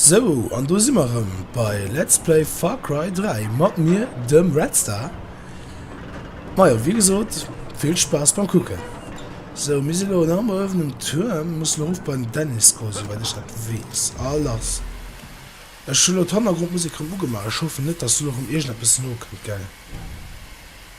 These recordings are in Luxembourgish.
Sou, an do si mer erëm bei Let's Play Far Cry 3. Mat mir dem Redstar. Majo, wéi gesot, vill Spaass beim Kucken. Sou, mir si elo en am erëffenen Tuerm. Muss elo erof beim Dennis goen, souwäit ech dat weess. A lass. Ech hunn elo d'Hannergrondmusek erëm ugemaach. Ech hoffen net, dass do nach erëm iergendeppes nokënnt, gell?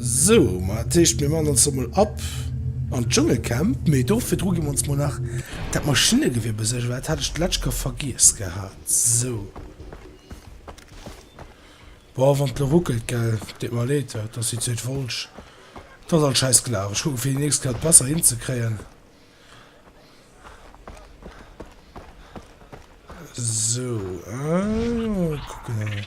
Sou, ma dat heescht, mir man ons lo mol ab an d'Dschungelcamp. Mee do virdru gi mer ons mol nach dat Maschinnegewieer besuergen, well dat hat ech d'lescht Kéier vergiess gehat. Sou. Boah, wann d'lo ruckelt, gell? Deet mer leed, dat ass déi zweet Wollsch. Dat ass alt schäiss gelaf. Ech kucken, fir déi nächst Kéier dat besser hinzekréien. Sou, kucken.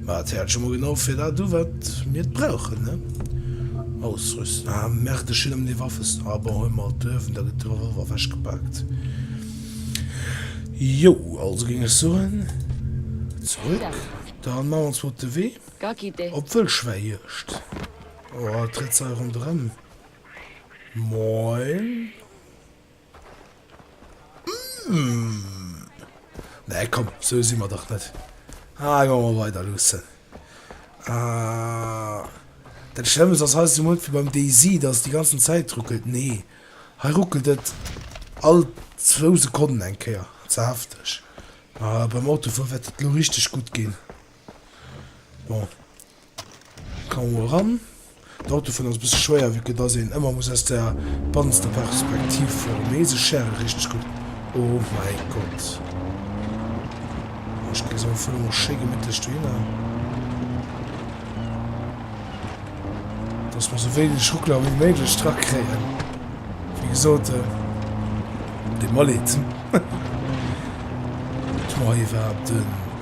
Mä et hält jo mol genau fir dat u wat mir et brauchen, ne? Ausrüsten, ah merde, ech hunn emol ee Waffeston, ah bon, huel mol alt Löwen, da gëtt de Revolver ewechgepaakt. Jo, also géing ech soen, zurück, da man ons mol op de Wee op Wëllschwäijuegd. Oh, et trëtt se hei ronderëm. Moin. Nee komm, sou si mer dach net. Ah, elo emol weider luussen. Ah. Dat Schlëmmst ass hei esou munch wéi beim DayZ, dass et déi ganzen Zäit ruckelt. Nee, hei ruckelt et all zwou Sekonnen eng Kéier. Ze hefteg. Ma beim Autofuer wäert et elo richteg gutt ginn. Bon. Komm mol ran. D'Auto fannen ass e bësse schwéier wéi que dass een ëmmer muss aus der bannster Perspektiv fueren, mee se schäre richteg gutt. Oh mäi Gott. Ech gesi se am Fong och schéi gemittlech dohinner. Dass mer sou wéineg Ruckler wéi méiglech dra kréien. Wéi gesot, et deet mer Leed. Ech mo hei iwwerhaapt en.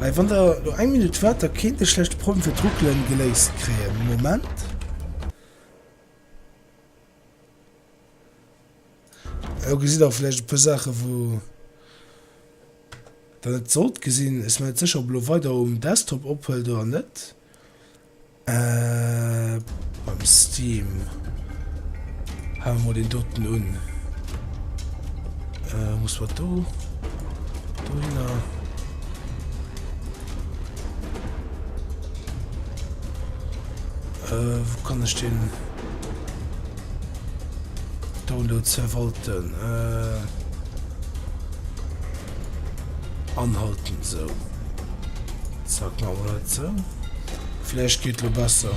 Hei wann der lo eng Minutt waart da kéint ech vläicht de Problem fir d'Ruckelen geléist kréien. Moment. Lo gesitt der vläicht e puer Saachen wou der net sollt gesinn. Ech sinn mer net sécher ob e lo weider um Desktop ophuelt oder net. Ahh mam Steam hae mer mol deen doten un. Ahh muss mer do dohinner. Äh, wou kann ech den Download verwalten? Äh. Anhalten esou. Zack, maache mer dat esou. Vläicht geet lo besser.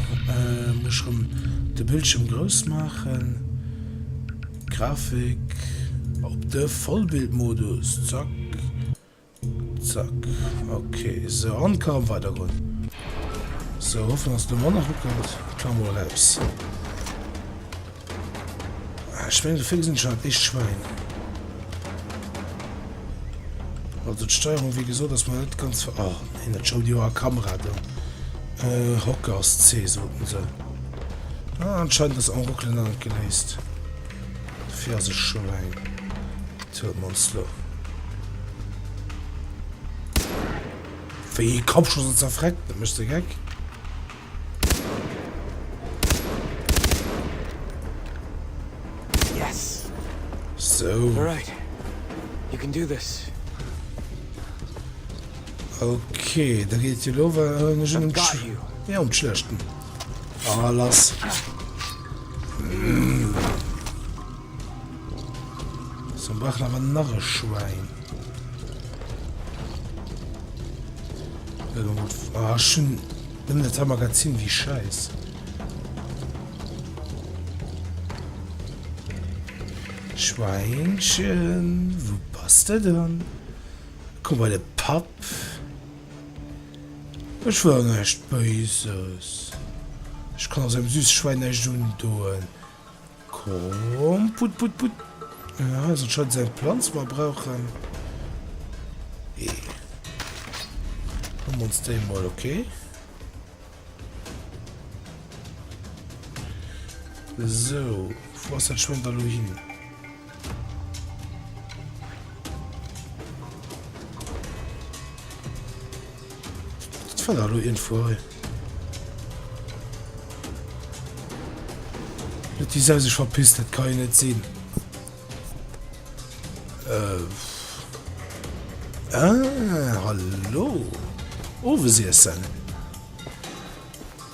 Muss ech erëm de Bildschierm grouss maachen. Grafik op de Vollbildmodus. Zack. Zack. Ok, esou. An ka erëm weidergoen. Esou, hoffen, dass et elo manner ruckelt. Klammer eraus. Ah, ech meng, souvill gesinn ech hat ee Schwäin. Also d'Steierung wéi gesot ass mer net ganz ver... Oh, hin dat Schoul Joer a Kamera do. Äh, Hocker ass C soten se. Ah, anscheinend ass en Ruckelen an geléist. Dofir ass e Schwäin. Tut mons lo. Wéi Kopfschuss zerfreckt, dat mech ze geck. Okay, da geet jo am schlechten A lass. So brach awer nach e Schwein. Aschen. Ah, Nëmmen dat hei Magazin, wéi schäiss. Schwäinchen, wou bass de dann? Komm bei de Papp. Ech wëll näischt Béises. Ech kann och esou engem süsse Schwäin näischt undoen. Komm, put, put, put. Hei ass anscheinend seng Planz, mer brauchen ee. Huelen mer ons déi emol, ok. Sou, wou ass dat Schwéng da lo hin? Fall hallo irgendwo hei. die se sech verpisst, dat kann net sinn. Äh. Ah, hallo. Owe oh, si essen.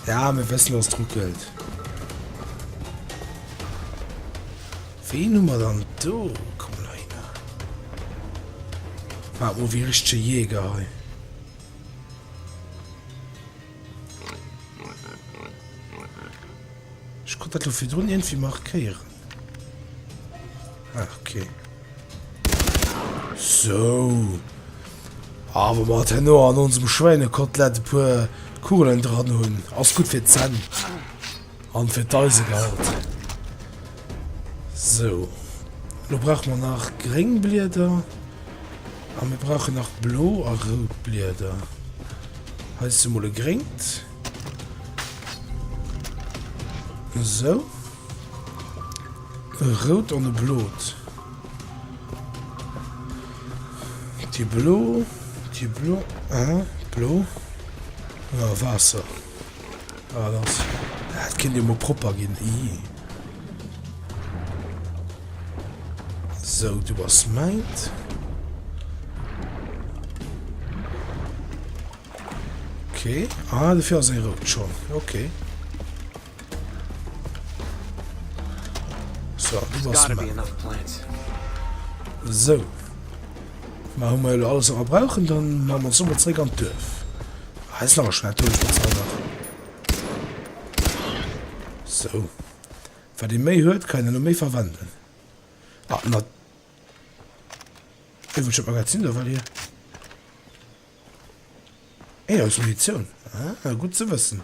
Ja mir wëssen dass et ruckelt. Ween hu mer dann do? Komm nei na. War o wie richsche Jäger hei. Ich konnt dat lo virdrun irgendwie markéieren. Ach, okay. So. Aber ah, mat henno an onsem Schweinekotelett e puer Kugeln dran hunn. Ass gut fir d'Zänn. An fir d'Eisegehalt. So. Lo brauch man nach gréng Blieder. An mir brauchen nach blo a rout Blieder. Heist du mol e gréngt. So. E rout an e blot. Déi blo, déi blo, ah, blo. Ah, Waasser. Ah, lass. Dat kinnt jo mol propper ginn. Ii. Sou, du bass mäint. Okay. Ah, dofir ass e rout schonn. Okay. So, so. Ma hu mal alles a brauchen, dann ma man sommer zréck an d'Dörf. Heiß nach schwer durch den Zauber. So. Wer den méi huet, kann den méi verwenden. Ah, na. Wie will schon Magazin da, weil hier. Ey, aus Munition. Ah, gut zu wissen.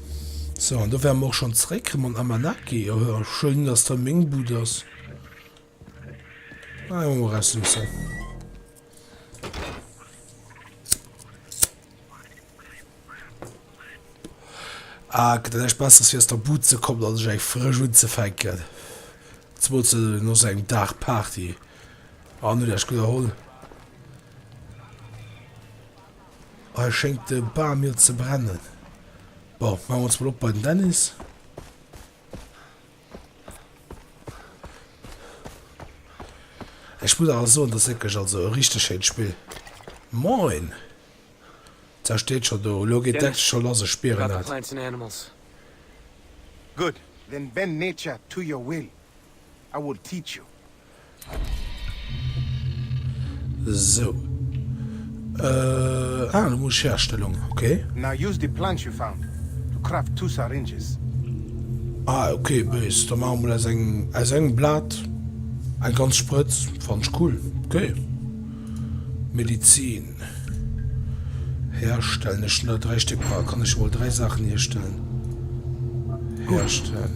So, an do wäre mer och schon zréck mam Amanaki. Jo, jo, schéin, dass da meng Bud ass. Ah, jo, mal rausluussen. Ah, gëtt dat echt besser, fir aus der Bud ze kommen an sech eng frësch unzefänken. Zumools no sou engem Dag Party. Ah, net echt gutt erholl. Hei schéngt de Bam jo ze brennen. Bon, maache mer ons mol op bei den Dennis. Ech muss awer soen, dass wierklech also e richteg schéint Spill. Moin! D'Sau steet scho do. Elo geet d'Action scho lass, ech spieren dat. Good, then bend nature to your will, I will teach you. Sou. Euh, ah, elo muss ech Herstellung, okay. Now use the plants you found to craft two syringes. Ah, okay, böse. Da maache mer mol aus engem, aus engem Blat eng ganz Sprëtz. Fannen ech cool. Okay. Medizin. Herstellen, ech hun der 3 Stéck bra, kann ech emol 3 Saachen hierstellen? Herstellen.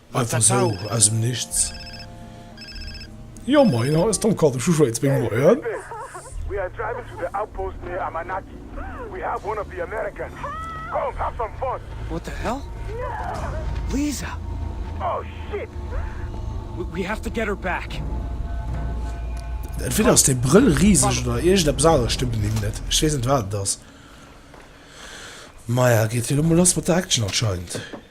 Einfach sou aus dem Nichts. Jo moien, hei ass Tom Kaldrick vu Schwéiz Bing, moien. Entweder ass dee Brëll riseg oder iergendeppes aneres stëmmt un him net. Ech weess net wat et ass. Maja, geet hie lo mol lass mat der Action anscheinend.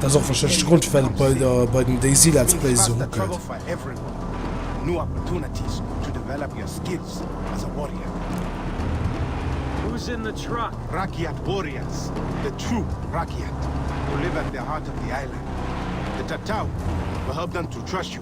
Dat ass och warscheinlech de Grond, well et bei den DayZ Let's Plays esou ruckelt.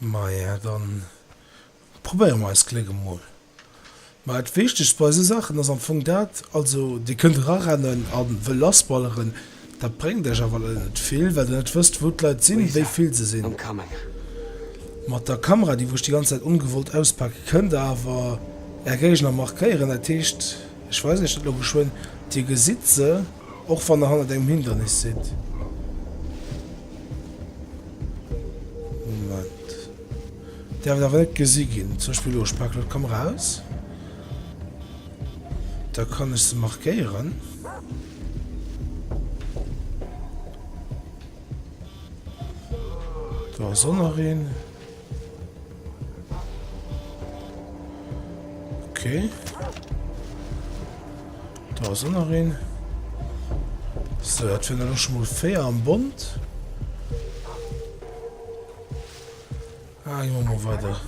Maja, dann probéiere mer eist Gléck emol. Ma dat Wichtegst bei esou Saachen ass am Fong dat, also Dir kënnt erarennen a wëll lassballeren, dat bréngt Iech awer leider net vill, well Der net wësst, wou d'Leit sinn, wéi vill se sinn. Mat der Kamera, déi wou Iech déi ganz Zäit ongewollt auspaken, kënnt Der awer Är Géigner markéieren. Dat heescht, ech weisen Iech dat elo geschwënn, Dir gesitt se, och wann Der hannert engem Hindernis sidd. Moment. Därf et awer net gesi ginn. Zum Beispill elo, ech paken elo d'Kamera aus. Da kann ech se markéieren. Da ass och nach een. Okay. Da ass ënner een. So, dat fir ëch mol féier am Bond. Ah, jo, mo weider.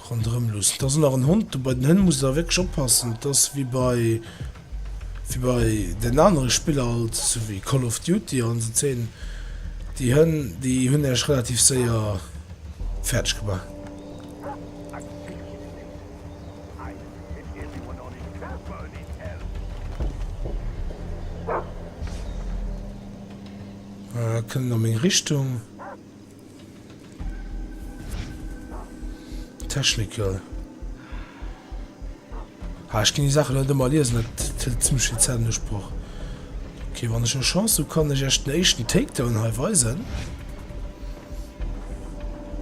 Ronderëm loossen. Et ass nach en Hond dobäi. Den Hënn muss da wierklech oppassen. Et ass wéi bei, wéi bei den anere Spiller alt esou wéi Call of Duty an esou Zeen. Déi Hënn, déi hunn Iech relativ séier fäerdeg gemaach. Kënnen a meng Richtung. Technical. Ah, ich kann die Sachen nicht immer lesen, das hält ziemlich viel Zeit in Anspruch. Okay, wenn ich eine Chance habe, kann ich euch den ersten Takedown hier weisen.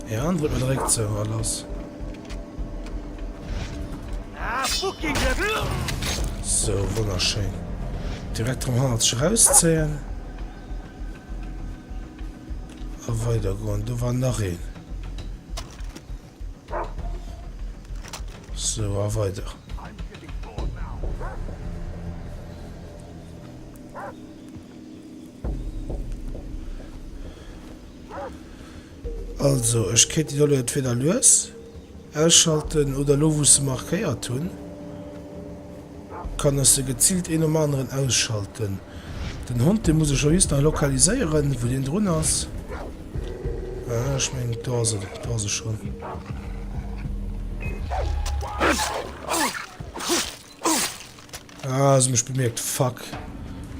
Ja, dann drücken wir direkt so, alles. So, wunderschön. Direkt vom Harz rausziehen. A weider goen. Do war nach een. So a weider. Also ech kéint Di dolle entweder lues. Ausschalten oder lo wou se markéiert hunn, kann ech se geziilt een nom aneren ausschalten. Den Hond dee muss ech jo just nach lokaliséieren wou deen drun ass. Aha, ech mengen do ass en, do ass e schonn. Ah, sie mich bemerkt. Fuck.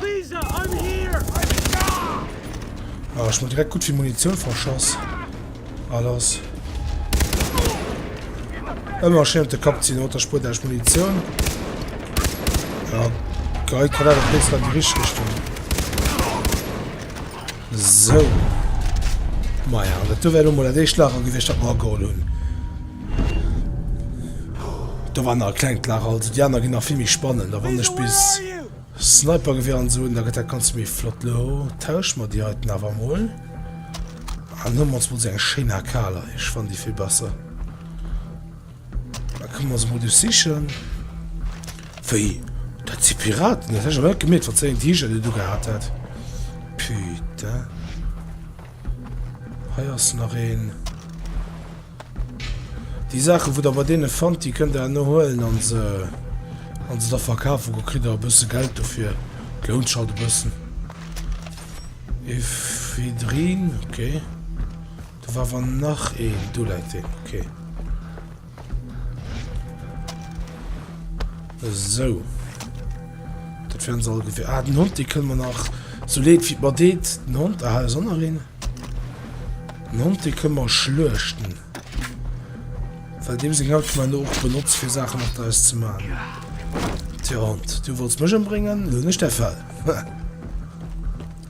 Lisa, I'm here. Ah, ich mal direkt gut viel Munition verschoss. Alles. Immer schön den Kopf ziehen, oder Spur der Munition. Ja, geil, kann er doch jetzt dann die richtige Richtung. So. Maja, an dat do wär lo mol dat éischt Lager gewiescht, dat mer ageholl hunn. Do war nach e klengt Lager, also déi aner ginn nach vill méi spannend. A wann ech bis Snipergewier an esou hunn, da gëtt dat Ganze méi flott. Lo tauschen mer déi heiten awer emol. An huelen mer ons mol esou eng schéin AK. Lei, ech fannen déi vill besser. Da kënne mer se mol do sichen. Wéi, dat si Piraten? Dat hat ech awer net gemierkt, wat fir eng T-Shirt en ugehat hat. Putain. Hei ass nach een. Déi Saachen, wou der bei deene fannt, déi kënnt der herno huelen a se, a se da verkafen. Do kritt der e bësse Geld dofir. Et lount sech halt e bëssen. Ephedrine, ok. Do war awer nach een, do läit deen, ok. Esou. Dat wären se all gewir. Ah, den Hond, dee kënne mer nach so leet wéi mer deet. Den Hond, aha, ass och nach een. Den Hond, dee kënne mer schluechten. Well deem seng Haut man och benotzt, fir Saachen mat eis ze man. Tja, Hond, du wollts mech ëmbréngen, lo hunn ech däi Fell.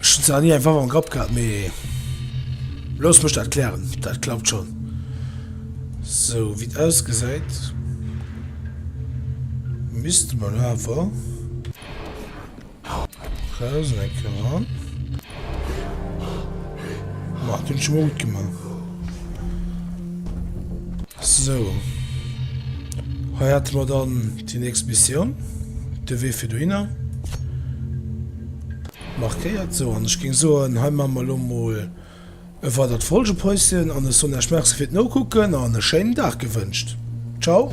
Ech hunn zwar nach ni eng Waff am Grapp gehat, mee looss mech dat klären. Dat klappt schonn. Sou wéi et ausgesäit, misste mer elo awer eraus eng Kéier eran. Ma, dat hunn ech scho mol gutt gemaach. Sou, hei hate mer dann déi nächst Missioun, de Wee fir dohinner. Markéiert sou an ech géing soen hei man mer lo mol e weidert Folgepäusschen an ech soen Iech Merci fir d'Nokucken an e schéinen Dag gewënscht. Ciao.